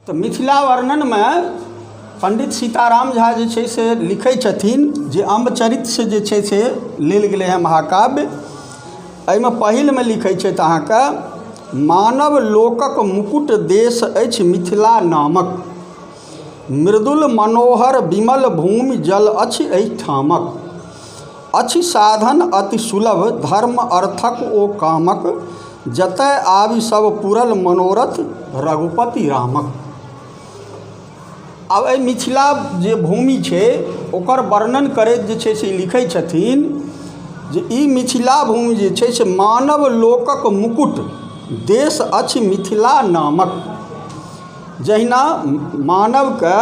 तऽ मिथिला वर्णनमे पण्डित सीताराम झा जे छै से लिखै छथिन जे अम्ब चरितसँ जे छै से लेल गेलै हँ महाकाव्य एहिमे पहिलमे लिखै छथि अहाँके मानव लोकक मुकुट देश अछि मिथिला नामक मृदुल मनोहर विमल भूमि जल अछि एहिठामक अछि साधन अति सुलभ धर्म अर्थक ओ कामक जतय आबि सब पूरल मनोरथ रघुपति रामक आब एहि मिथिला जे भूमि छै ओकर वर्णन करैत जे छै से लिखै छथिन जे ई मिथिला भूमि जे छै से मानव लोकक मुकुट देश अछि मिथिला नामक जहिना मानवके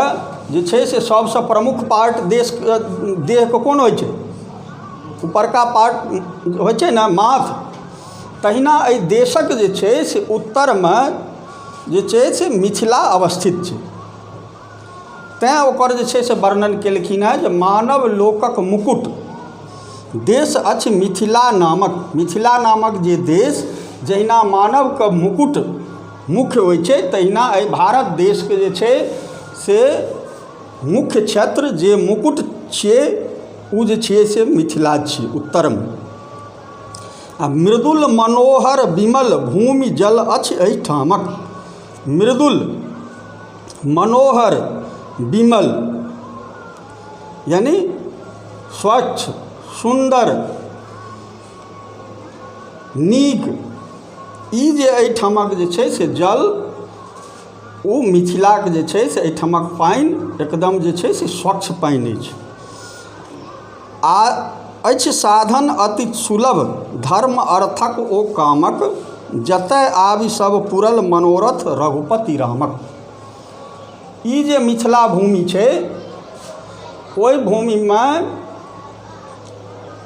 जे छै से सबसँ प्रमुख पार्ट देशके देहके कोन होइ छै उपरका पार्ट होइ छै ने माथ तहिना एहि देशके जे छै से उत्तरमे जे छै से मिथिला अवस्थित छै तेँ ओकर जे छै से वर्णन केलखिन हँ जे मानव लोकके मुकुट देश अछि मिथिला नामक मिथिला नामक जे देश जहिना मानवके मुकुट मुख्य होइ छै तहिना अइ भारत देशके जे छै से मुख्य क्षेत्र जे मुकुट छियै उ जे छियै से मिथिला छी उत्तरमे आओर मृदुल मनोहर विमल भूमि जल अछि अइ ठामक मृदुल मनोहर विमल यानि स्वच्छ सुन्दर नीक ई जे एहिठामक जे छै से जल ओ मिथिलाक जे छै से एहिठामक पानि एकदम जे छै से स्वच्छ पानि अछि आ अछि साधन अति सुलभ धर्म अर्थक ओ कामक जतय आबि सभ पुरल मनोरथ रघुपति रामक ई जे मिथिला भूमि छै ओहि भूमिमे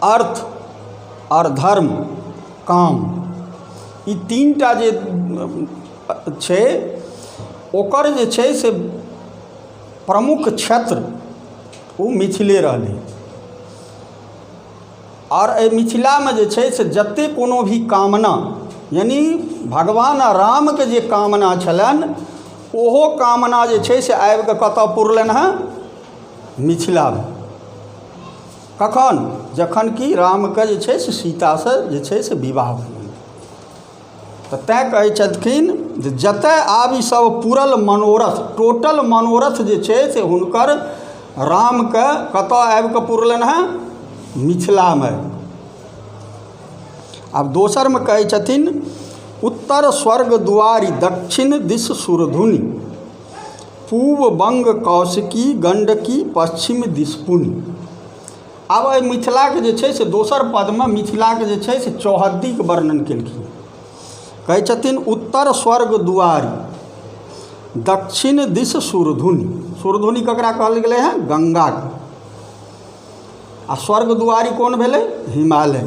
अर्थ आओर धर्म काम ई तीन टा जे छै ओकर जे छै से प्रमुख क्षेत्र ओ मिथिले रहलै आओर एहि मिथिलामे जे छै से जतेक कोनो भी कामना यानि भगवान रामके जे कामना छलनि ओहो कामना जे छै से आबिके कतय पुरलनि हेँ मिथिलामे कखन जखन कि रामके जे छै से सीतासँ जे छै से विवाह भऽ गेलनि तऽ तैँ कहै छलखिन जे जतय आबि सभ पूरल मनोरथ टोटल मनोरथ जे छै से हुनकर रामके कतय आबि कऽ पुरलनि हेँ मिथिलामे आब दोसरमे कहै छथिन उत्तर स्वर्ग दुआरि दक्षिण दिश सुरधुनि पूब बङ्ग कौशिकी गण्डकी पच्छिम दिस पुण आब एहि मिथिलाके जे छै से दोसर पदमे मिथिलाके जे छै से चौहद्दीके वर्णन केलखिन कहै छथिन उत्तर स्वर्ग दुआरि दक्षिण दिस सुरधुनि सुरधुनि ककरा कहल गेलै हँ गङ्गाके आ स्वर्ग दुआरि कोन भेलै हिमालय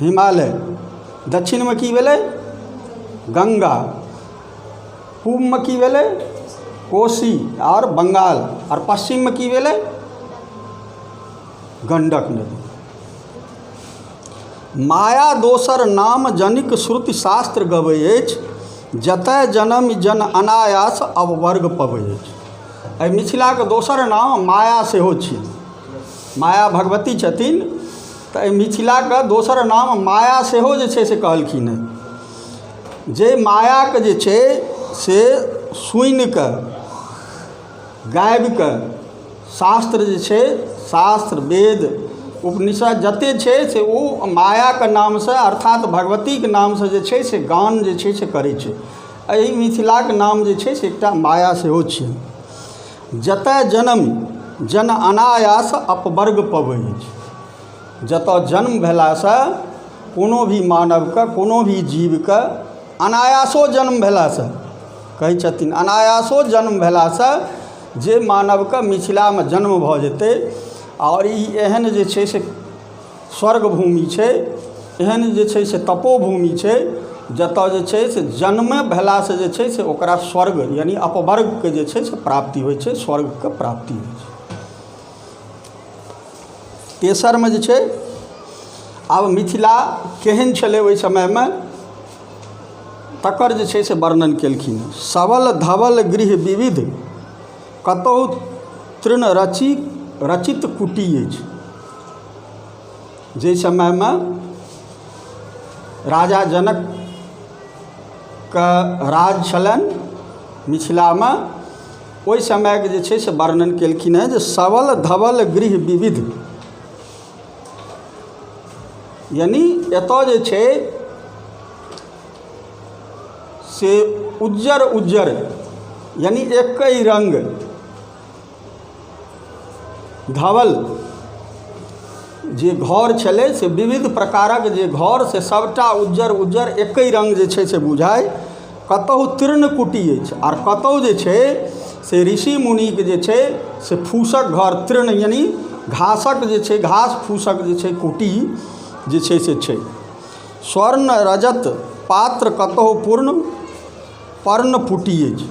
हिमालय दक्षिणमे की भेलै गङ्गा पूबमे की भेलै कोशी आओर बङ्गाल आओर पश्चिममे की भेलै गण्डक नदी माया दोसर नाम जनिक श्रुति शास्त्र गबै अछि जतए जनम जन अनायास अववर्ग पबै अछि एहि मिथिलाके दोसर नाम माया सेहो छी माया भगवती छथिन तऽ एहि मिथिलाके दोसर नाम माया सेहो जे छै से कहलखिन हेँ जाहि मायाके जे छै से सुनिकऽ गाबिकऽ शास्त्र जे छै शास्त्र वेद उपनिषद जते छै से ओ मायाके नामसँ अर्थात भगवतीके नामसँ जे छै से गान जे छै से करै छै एहि मिथिलाके नाम जे छै से एकटा माया सेहो छिए जतए जनम जन अनायास अपवर्ग पबै अछि जतए जन्म भेलासँ कोनो भी मानवके कोनो भी जीवके अनायासो जन्म भेलासँ कहै छथिन अनायासो जन्म भेलासँ जे मानवके मिथिलामे जन्म भऽ जेतै आओर ई एहन जे छै से स्वर्ग भूमि छै एहन जे छै से तपोभूमि छै जतऽ जे छै से जन्मे भेलासँ जे छै से ओकरा स्वर्ग यानि अपवर्गके जे छै से प्राप्ति होइ छै स्वर्गके प्राप्ति होइ छै तेसरमे जे छै आब मिथिला केहन छलै ओहि समयमे तकर जे छै से वर्णन केलखिन सबल धवल गृह विविध कतहु तृण रचि रचित कुटी अछि जाहि समयमे राजा जनकके राज छलनि मिथिलामे ओहि समयके जे छै से वर्णन केलखिन हेँ जे सबल धवल गृह विविध यानि एतय जे छै से उज्जर उज्जर यानि एकहि रङ्ग धवल जे घर छलै से विविध प्रकारक जे घर से सभटा उज्जर उज्जर एकै रङ्ग जे छै से बुझाय कतहु तीर्ण कुटी अछि आर कतहु जे छै से ऋषि मुनिक जे छै से फूसक घर तीर्ण यानि घासक जे छै घास फूसक जे छै कुटी जे छै से छै स्वर्ण रजत पात्र कतहु पूर्ण पर्ण पुटी अछि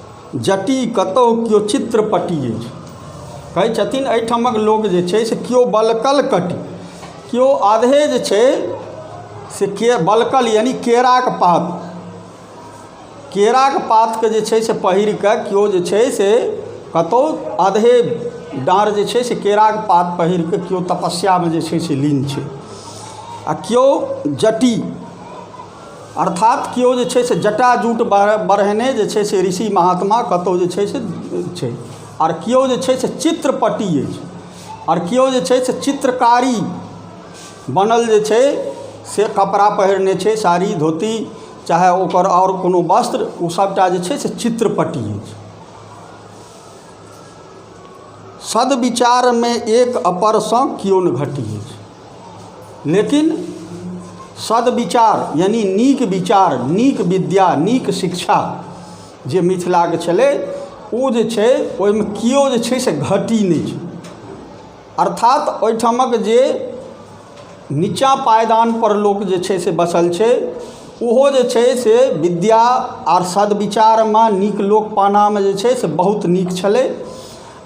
जटी कतहु केओ चित्रपटी अछि कहै छथिन एहिठामक लोक जे छै से केओ बलकल कटी केओ आधे जे छै से के बलकल यानि केराक पात केराक पातके जे छै से पहिर कऽ केओ जे छै से कतहु आधे डाँर जे छै से केराक पात पहिर कऽ केओ तपस्यामे जे छै से लीन छै आ केओ जटी अर्थात केओ जे छै से जटाजूट बढ़ेने जे छै से ऋषि महात्मा कतहु जे छै से छै आओर केओ जे छै से चित्रपट्टि अछि आओर केओ जे छै से चित्रकारी बनल जे छै से कपड़ा पहिरने छै साड़ी धोती चाहे ओकर आओर कोनो वस्त्र ओ सबटा जे छै से चित्रपट्टि अछि सद्विचारमे एक अपरसँ केओ नहि घटि अछि लेकिन सदविचार यानि नीक विचार नीक विद्या नीक शिक्षा जे मिथिलाके छलै ओ जे छै ओहिमे केओ जे छै से घटी नहि छै अर्थात ओहिठामक जे निचाँ पायदानपर लोक जे छै से बसल छै ओहो जे छै से विद्या आओर सदविचारमे नीक लोक पानामे जे छै से बहुत नीक छलै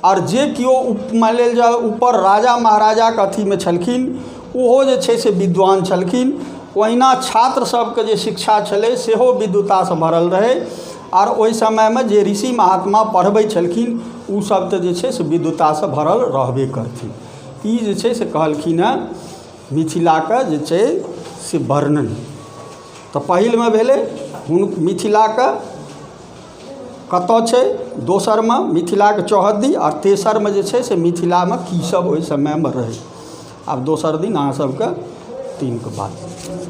आओर जे केओ मानि लेल जाउ उपर राजा महाराजाके अथीमे छलखिन ओहो जे छै से विद्वान छलखिन ओहिना छात्र सबके जे शिक्षा छलै सेहो विद्वतासँ भरल रहै आओर ओहि समयमे जे ऋषि महात्मा पढ़बै छलखिन ओ सब तऽ जे छै से विद्वतासँ भरल रहबे करथिन ई जे छै से कहलखिन हँ मिथिलाके जे छै से वर्णन तऽ पहिलमे भेलै मिथिलाके कतऽ छै दोसरमे मिथिलाके चौहद्दी आओर तेसरमे जे छै से मिथिलामे की सब ओइ समयमे रहै आब दोसर दिन अहाँ सबके दिनके बात